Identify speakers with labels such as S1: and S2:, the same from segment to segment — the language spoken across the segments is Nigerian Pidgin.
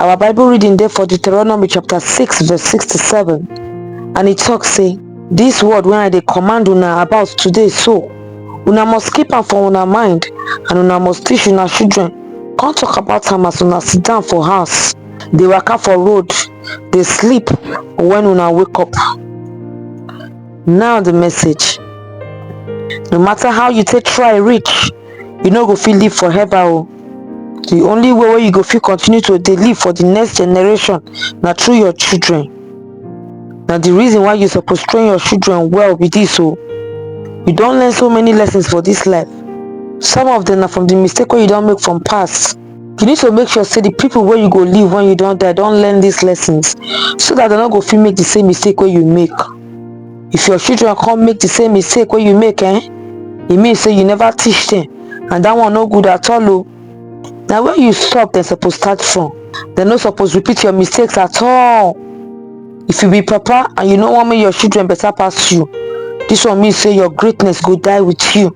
S1: our bible reading there for deuteronomy chapter 6 verse 6 to 7 and it talks say this word when i dey command una about today so una must keep am for una mind and una must teach una children come talk about am as una sit down for house dey waka for road dey sleep when una wake up now the message no matter how you take try reach you no go fit live forever o oh. Di only way wey you go fit continue to dey live for di next generation na through your children. Na di reason why you suppose train your children well be dis o. You don learn so many lessons for dis life, some of dem na from di mistake wey you don make from past. You need to make sure sey di pipu wey you go leave wen you don die don learn dis lessons so dat dem no go fit make di same mistake wey you make. if your children come make the same mistake wey you make eh e mean say you never teach them and that one no good at all o na when you stop dem suppose start from dem no suppose repeat your mistakes at all if you be papa and you no wan make your children better pass you this one mean say your greatness go die with you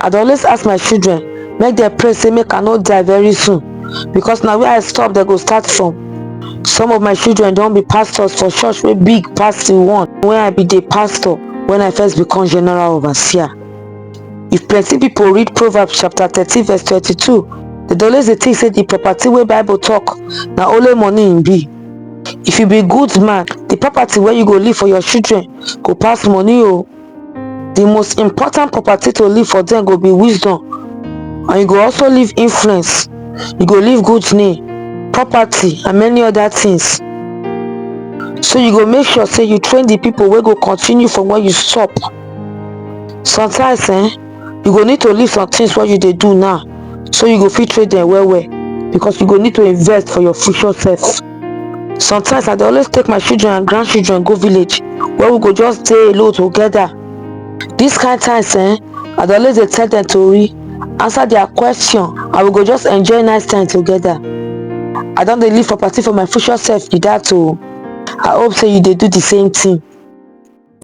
S1: i dey always ask my children make dem pray say make i no die very soon because na where i stop dem go start from some of my children don be pastors for church wey big pass the one wey i be dey pastor when i first become general overseer if plenty people read proverbs chapter thirteen verse twenty-two dem dey always dey think say the property wey bible talk na only money im e be if you be good man the property wey you go leave for your children go pass money o oh. the most important property to leave for them go be wisdom and you go also leave influence you go leave good name property and many other things so you go make sure say you train the people wey go continue from where you stop sometimes eh you go need to leave some things wey you dey do now so you go fit trade them well well because you go need to invest for your future self sometimes i dey always take my children and grandchildren go village where we go just dey alone together this kind times eh i dey always dey tell them tori answer their question and we go just enjoy nice time together i don dey live for party for my future self be that o i hope say you dey do the same thing